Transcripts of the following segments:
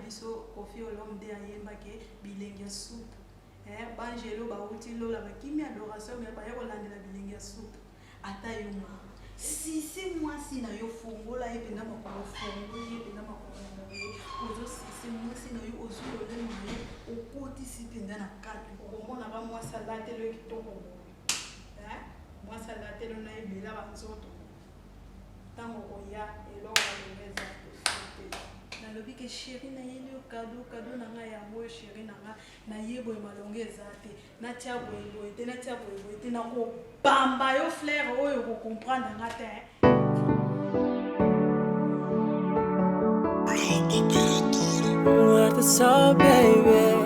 biso Koffi Olomide ayemba ke bilengi ya soupe eh, bangelo bawuti lola bakimi adoration me baye kolandela bilengi ya soupe ata yo ma sisi mwasi na yo fongola ye mpenza makolo fongoli ye mpenza makolo na ye ozosisi mwasi na yo ozwi lolemo na ye okotisi mpenza na kati okomona ba mwasi alatelo ye kitoko boye eh, mwasi alatelo na ye bela banzoto tango oya eloko nalingi eza te nalobi ke sheri nayeli yo kado kado na ngai yango oyo sheri na ngai naye boye malonga eza te natya boye boye te natya boye boye te nakobamba yo flaire oyo okocomprendre nga te What's up, baby?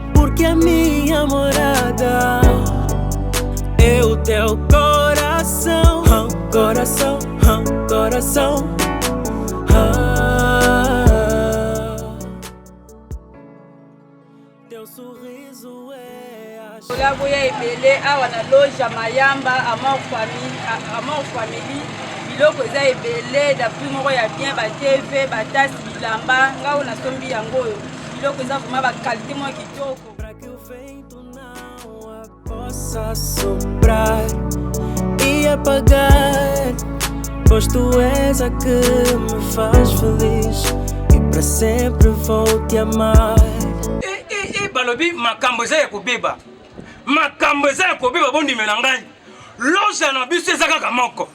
Porque a minha morada é o teu coração, coração, coração. Teu sorriso é a Collabo ya ebele awa na loge ya Mayamba Amor Family, Amor Family. Biloko eza ebele, da prix moko ya bien, ba TV, ba tasse, bilamba, ngai oyo nasombi yango oyo. biloko eza vrema bakalite mwa kitoko possa soprar e apagar, pois tu és a que me faz feliz e para sempre vou te amar. Eh, eh, eh, balobi makambo eza ya kobeba makambo eza ya kobeba bondimela ngai loja na biso eza kaka moko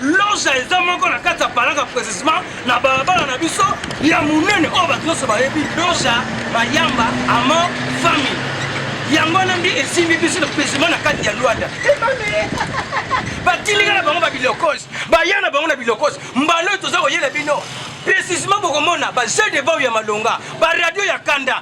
loja eza moko na kati ya palaka precisement na balabala na biso ya monene oyo bato nyonso bayebi loja mayamba amor famille yango wana nde esimbi biso na precisement na kati ya lwanda batilika na bango babilokosi baya na bango na bilokosi mbala oyo toza koyela bino precisement bokomona bajeu de vau ya malonga baradio ya kanda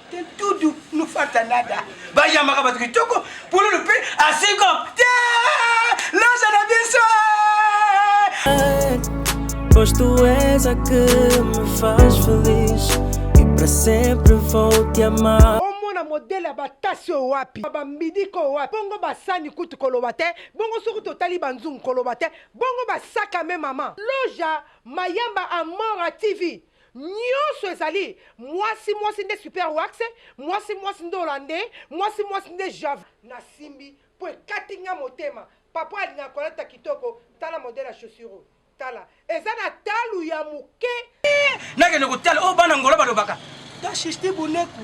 Tudu nufata nada bayambaka bato kitoko pululu mpe asiko te loza na biso Pois tu és a que me faz feliz E pra sempre vou te amar omona modele ya batasi oyo wapi bambidika oyo wapi bongo basani kutu koloba te bongo soki totali banzungu koloba te bongo basakame mama loja mayamba amora tv Nionso ezali mwasi mwasi nde super wax mwasi mwasi nde hollandais mwasi mwasi nde java. Nasimbi po ekati nga motema papa alingaka kolata kitoko tala modèle ya chaussure oyo tala eza na talu ya moke. Nakende kotala oyo bana Angola balobaka tashishti boneku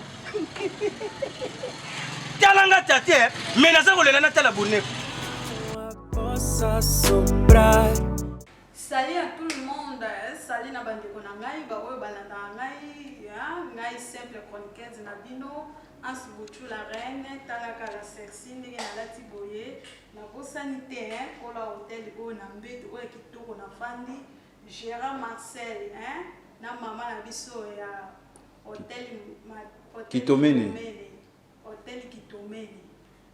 tala nga tate me naza kolela natala boneku Salut à tout le monde, salut na bandeko na ngai ba oyo balandaka ngai, ngai simple chroniqueuse na bino Anse Bouchou la reine, talaka la sexy ndenge nalati boye, nabosani te kola hotel oyo na mbetu oyo ya kitoko na fandi, Gérard Marcel hein, na mama na biso ya hotel Kitomene. Hotel Kitomele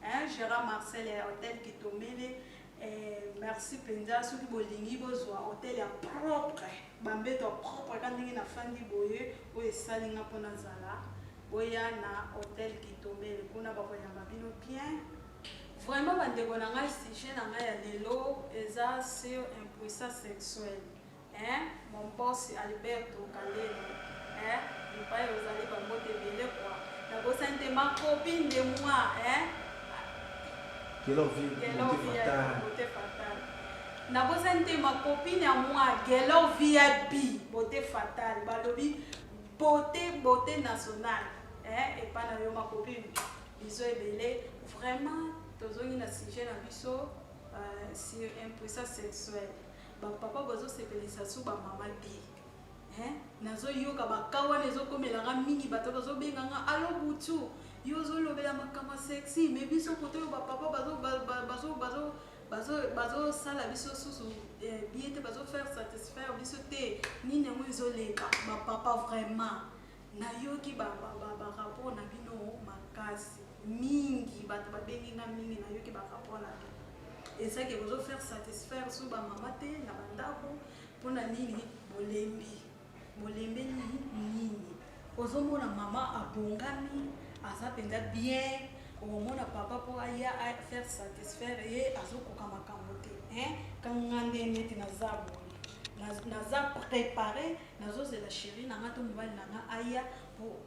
hein Gérard Marcel ya Hotel Kitomele eh, merci penza soki bolingi bozwa hotel ya propre bambeto ya propre ka ndenge nafandi boye oyo esali nga mpo nazala boya na hotel Kitomele kuna bakoyamba bino bien vraiment bandeko na ngai sujet na ngai ya lelo eza sur impuissance sexuelle Eeh mon boss Alberto Kandelo eeh epayi ozali ba mbote ebele quoi na bosani te ma copine de moi eeh Gelor vie beaute fatale na bosani te ma copine ya moi Gelor VIP beaute fatale balobi beaute beaute nationale eeh epa na yo ma copine biso ebele vraiment tozongi na sujet na biso euh, sur impuissance sexuelle Ba papa bazo sepelisa su ba mama te hein nazo yoka ba ka wana ezo komela nga mingi bato bazo benga nga allo butu yo ozo lobela makambo sexy mais biso koto yo ba papa bazo bazo bazo bazo bazo sala biso susu eh, bien te bazo faire satisfaire biso te nini yango ezo leka ba papa vraiment Na yoki ba rapport na bino makasi mingi batu ba bengi nga mingi na yoki ba rapport na bino eza ke bozo faire satisfaire sur ba mama te na ba ndaku pona nini bolembi bolembeli nini ozomona mama abongami aza mpenza bien omona papa mpo aya faire satisfaire ye azokoka makambo te kanga nde neti naza boye naza prépare nazozela sheri na nga to mobali na nga aya po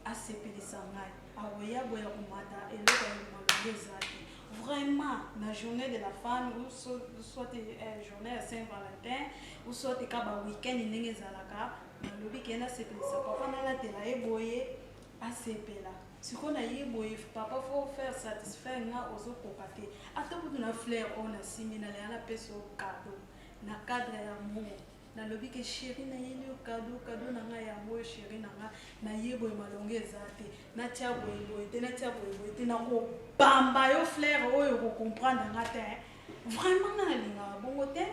asepelisa ngai akoya boya komata eloko ya malonga eza te vraiment na journée de la femme ou so- soit eh, journée ya saint valentin ou soit ka ba week-end ndenge ezalaka nalobi ke nasepelisa papa nalatela ye boye asepela sikoyo na ye boye papa fo faire satisfaire nga ozokoka te ata kutu na flair oyo nasimbi nalela napesa yo kado na cadre ya amour nalobi ke sheri nayeli yo kado kado na ngai yango oyo sheri na ngai naye boye malonga eza te natya boye boye te natya boye boye te nakobamba yo flaire oyo okokomprendre nga te vraiment nga nalingaka bongo te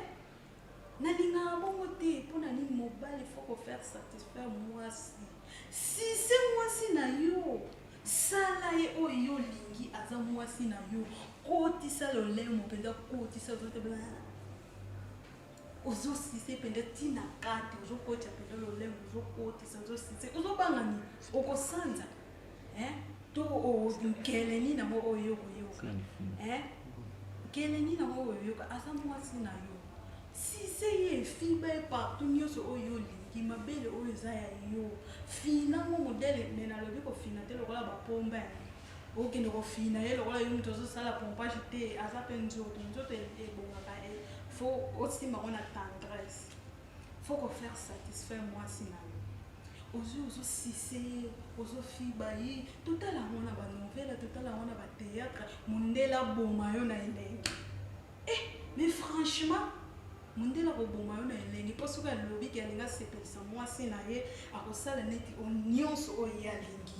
nalingaka bongo te mpo na nini mobali fo kofaire satisfaire mwasi si se mwasi na yo sala ye oyo yo olingi aza mwasi na yo kotisa lolemo mpenza kotisa ozote ozo sise mpenza ti na kati ozokotisa mpenza lolemo ozokotisa ozosise ozobanga nini okosanza to nkele nini yango oyo okoyoka nkele nini yango oyo oyoka aza mwasi na yo sise ye efiba ye partout nyonso oyo olingi mabele oyo eza ya yo fina ngo modele me nalobi kofina te lokola bapomba ya okende kofina ye lokola yo moto ozosala pompage te aza mpe nzoto nzoto e, ebongaka e fo osimba ngo na tendresse fo kofaire satisfaire mwasi na yo ozwi ozosise ye ozofiba ye totala yango na banovela totala yango na bateatre mondele aboma yo na elenge e eh, mais franchement mondele akoboma yo na elenge mpo soki alobi ke alingi asepelisa mwasi na ye akosala neti nyonso oyo ye alingi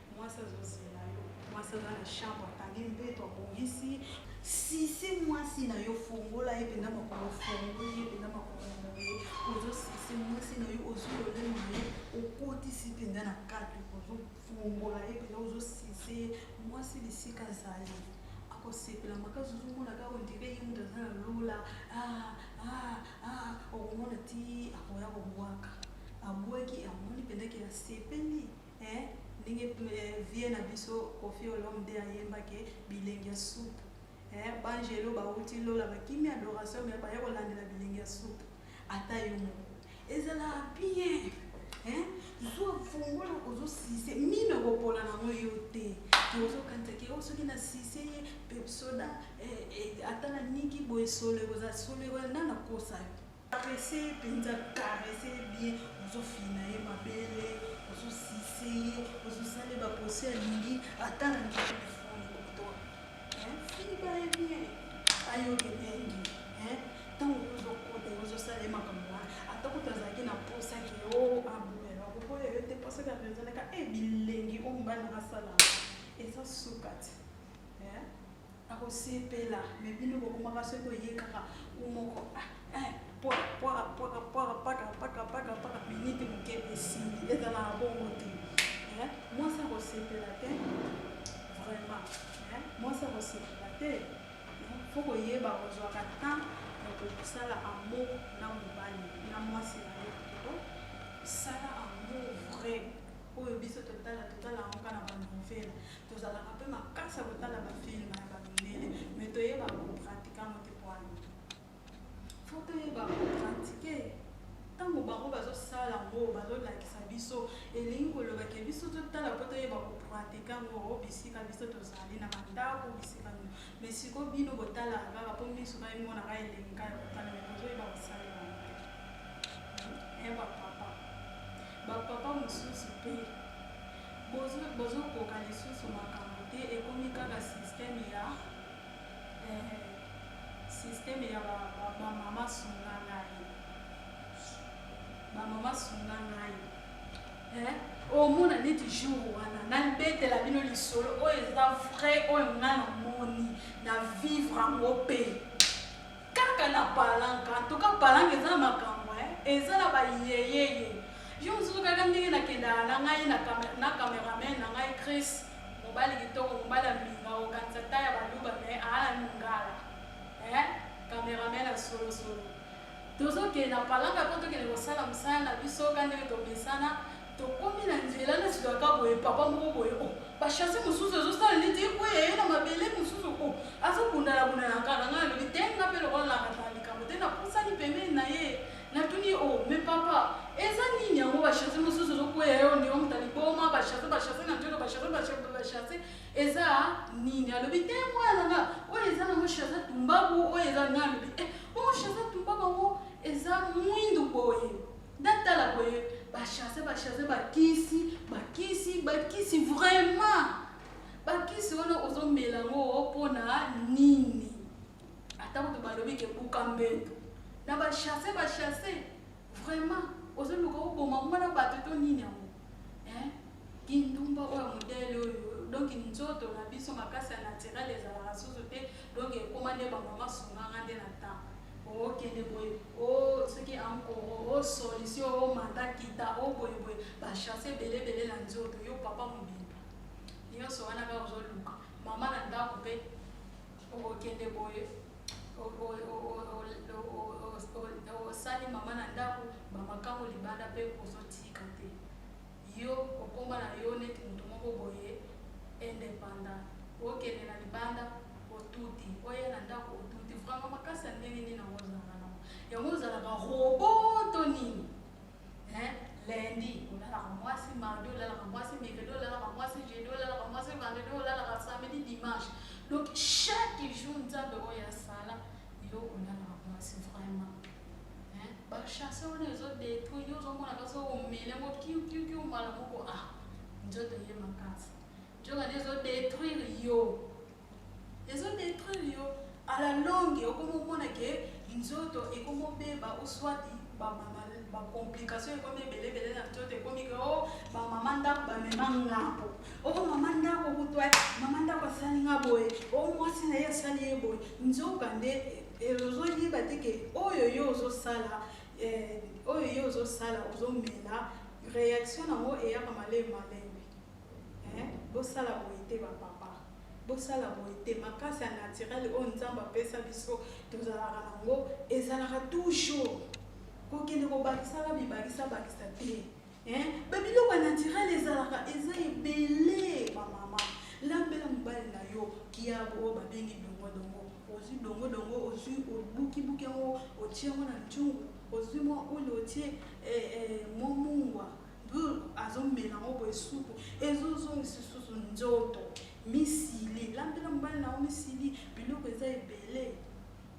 Mwasi azozela yo. Mwasi aza na chambre akangi mbeto abongisi. Sisi mwasi na yo fongola ye mpenza makolo ofongoli ye mpenza makolo moye ozosisi mwasi na yo ozololema ye okotisi mpenza na kati ozofongola ye mpenza ozosise ye mwasi bisika azali akosepela makasi ozomona kaka ondire ye moto aza na lola ah, ah, ah, okomona ti akoya kobwaka abwaki amoni mpenza ke asepeli Eeh ndenge vieux na biso koffi olomide ayemba ke bilengi ya supu eeh b'angelu bawuti lola bakimi adoration mais baye kolandela bilengi ya supu ata yo moko ezalaka bien eeh zua fongola ozo sise mino ekopola nango yo te ke ozo kanisa ke oh soki na sise ye pepsoda eeh ata na niki boye solo ekozala solo ekozala nde nakosa yo. Caresse penza caresse bien ozo fina ye mabele ozo sise ye ozo sale ba posi alingi ata rangi telefone koto hein fini ba ye bien ayo ke bengi hein tango ozo kota ozo sale makambo wana ata kutu azalaki na posa ke o oh, abumela koboya yo te posa ka penza naka e eh, bilengi o mbana asala eza sukati hein Akosepela mais bino bokomaka soki oye kaka ou moko pwakapwakapwakapwakapwakapwakapwaka minite moke esili ezalaka bongo te mwasi akosepela te vraiment mwasi akosepela te fo koyeba kozwaka temps ya kosala amour na mobali na mwasi na yo to sala amour vrai oyo biso totala totala yango kaka na banouvele Tozalaka pe makasi ya kotala ba film ya ba mindele mais toyebaka ko pratique yango te poani faut toyeba ko pratique ntango bango bazosala yango bazolakisa biso elingi koloba ke biso totala mpo toyeba kopratique yango oh, bisika biso tozali na bandako bisika nini me siko bino botalaka kaka mpo miso ngai monaka elengi kaka kotala me bozoyeba kosalela yango te bapapa bapapa mosusu mpe Bozo koka lisusu makambu te ekomi kaka systeme ya eeh systeme ya ba maman sunga ngai ba maman sunga ngai eeh omona neti jour wana na betela bino lisolo oyo eza vrai oyo nga na moni na vivre ango pe Kaka na palanca en tout cas palanca eza na makambo hein eza na ba yeyeye yo mususu kaka ndenge na kendaka na ngai na camera na cameraman na ngai Chris mobali kitoko mobali ya mbinga okanisa ta ya baluba me aala mingala hein cameraman ya solo solo tozokende na palanca po tokende kosala mosala na biso ka ndenge tomesana tokomi na nzela na sikaka boye papa moko boye o oh, bashase mosusu ezosala neti ekweya ye na mabele mosusu o oh, azobundalabundalaka na ngai alobi te nga mpe lokola nakataka likambo te napusani pembeni na ye natuni o oh, me papa eza nini yango bashase mosusu ezokweya yo ndeko moto aliboma bashase bashase na nzoto bashase bashase eza nini alobi te mwana na nga oyo eza nango shase tumbaku oyo eza ngai alobi e eh, bongo shase tumbaku yango eza mwindu boye Natala boye ba chasse ba chasse ba kisi ba kisi ba kisi vraiment ba kisi wana ozo mela ngo pona nini ata kutu balobi ke buka mbeto na ba chasse ba chasse vraiment ozo luka oboma mwana bato to nini yango eh? kindumba oyo modele oyo donk nzoto na biso makasi ya naturel ezalaka susu te donk ekoma nde bamama sunganga nde na ntango okende boye o soki ankoro o solution o manda kita o boye boye bachanse ebele ebele na nzoto yo papa mobimba nyonso wana kaka ozoluka mama na ndako mpe okokende boye osali mama na ndako bamakango libanda mpe ozotika te Yo okoma na yo neti mutu moko boye independant okende na libanda otuti oya na ndaku otuti vraiment makasi ya ndenge nini yango ozalaka nango yango ozalaka robot to nini hein lundi olalaka mwasi mardi olalaka mwasi mercredi olalaka mwasi jeudi olalaka mwasi vendredi olalaka samedi dimanche donc chaque jour nzambe oyo asala yo olalaka mwasi vraiment Hein? Ba chasse on est au détruit, yo zo mona kaso au mele mo kiu kiu kiu mala moko ah. Nzoto ye makasi. Nzoka ne zo détruire yo. Ezo détruire yo à la longue okomo mona ke nzoto ekomo beba ou soit ba mama ba complication ekomi ebele ebele na nzoto ekomi ke oh ba mama ndako ba mema ngapo. Oh mama ndako kutwa mama ndako asali nga boye. Oh mwasi na ye asali ye boye. Nzoka nde Et ozoyeba te ke oyo yo ozosala eh, oyo yo ozosala ozomela reaction nango eyaka malemi malemi eh, bosala boye te bapapa bosala boye te makasi ya naturel oyo nzambe apesa biso tozalaka nango ezalaka toujours kokende kobakisaka bibakisa bakisa te Eh, ba biloko ya naturel ezalaka eza ebele ba mama lambela mobali na yo kiabo oyo babengi dongodongo ozwi dongodongo ozwi obukibuki yango otie yango na ntungu ozwi mwa ule otie eh, eh, mwa mungwa azomela yango boye supu ezozongisa susu nzoto misili lambela mobali na yo misili biloko eza ebele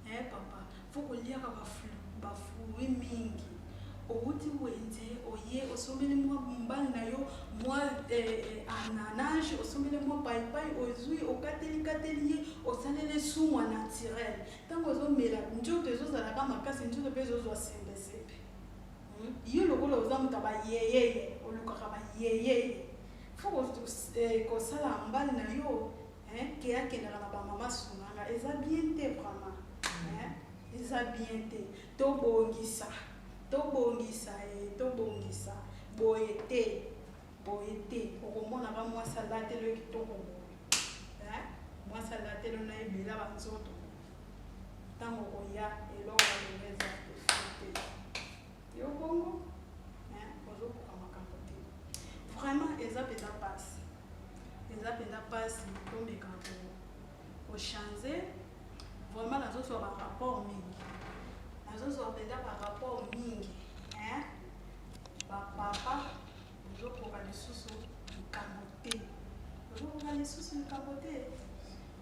Eh papa faut koliaka ba fruits mingi owuti wenze oye osombeli mwa mobali na yo mwa ananage osombeli mwa paipai ozwi okateli kateli ye osaleli sumwa naturel ntango ozomela nzoto ezozalaka makasi nzoto mpe ezozwa sembesembe yo lokola oza moto ya bayeyeye olukaka bayeyeye fo kosala mbali na yo Hein, ke akendaka na ba mama sunganga eza bien te vraiment. Hein, eza bien te. Tobongisa. Tobongisa e, eh, tobongisa. Boye te. Boye te. Okomona ba mwasi alateli yo kitoko boye. Hein? Mwasi alateli yo na ebela ba nzoto. Ntango okoya eloko ya eleza te. Yo bongo eh, bozokoka makambo te vraiment, eza mpenza mpasi, eza mpenza mpasi. Tomeka kochange vraiment, nazozwa barapport mingi, nazozwa mpenza barapport mingi eh, bapapa bozokoka lisusu likambo te, bozokoka lisusu likambo te.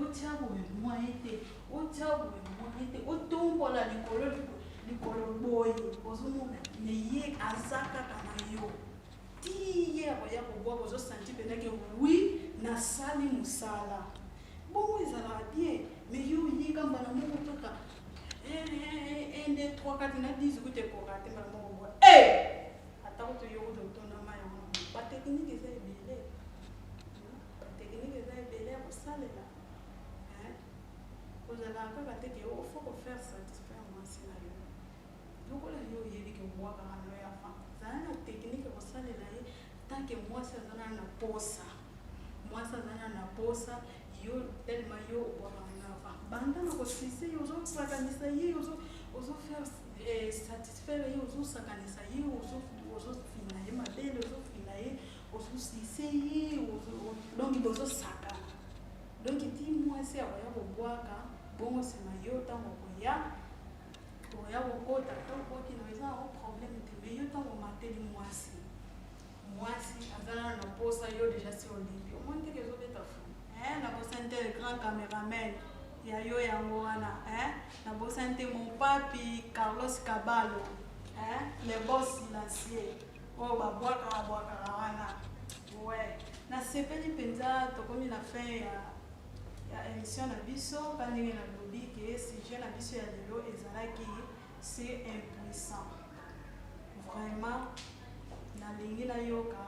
Otya boye mwaye te, otya boye mwaye te, otombola likolo likolo boye, ozomona me ye aza kaka na yo ti ye akoya kobwaka, ozosanti mpenake wi nasali mosala bongo ezalaka bien me yo oyika mbala moko kaka 1 2 3 4 na 10 okute koka te mbala moko boye eh! atako toyoko totonda mai yango bateknike eza ebele Ba technique eza ebele ya kosalela hein kozala kaka te ke o faut ko faire satisfaire mwasi na yo lokola yo oyebi ke obuakaka na yo ya fant zala na technique ya kosalela ye tant ke mwasi aza nanu na posa mwasi aza nanu na posa yo tellement yo obuakaka na yo ya fant banda na kosise ye ozosakanisa ye ozo ozo faire eh, satisfaire ye ozosakanisa ye ozo ozo fina ye mabele ozo fina ye ososise ye donki bozosaka donki ti mwasi akoya kobwaka bongo nsima yo ntango okoya oya kokota to okoti na eza yango problème te mais yo ntango omateli mwasi mwasi aza nano na mposa yo deja si olingi omoni teke ezobeta fu eh, na bosani te le grand cameraman ya yo yango wana eh, na bosani te mon papi carlos cabalo eh, le bos silencieux oyo babwakaka bwakaka wana we nasepeli mpenza tokomi na fin ya ya emission na biso mpa ndenge nalobi ke sujet na biso ya lelo ezalaki se impuissant vraiment nalingi nayoka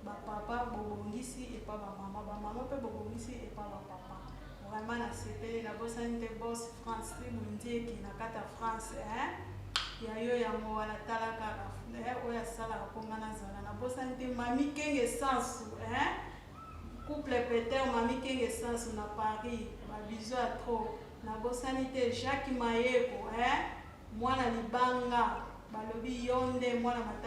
Ba papa bobongisi epa ba mama, ba mama pe bobongisi epa ba papa. Vraiment na sepeli na bosani te boss France ti mundieki na kata France hein ya yo yango wana tala kaka eh, oyo asalaka po nga nazala na bosani te mami kenge sansu hein couple peter mami kenge sansu na Paris ba bisous ya trop na bosani te Jacques Mayeko hein mwana libanga balobi yo nde mwana matadi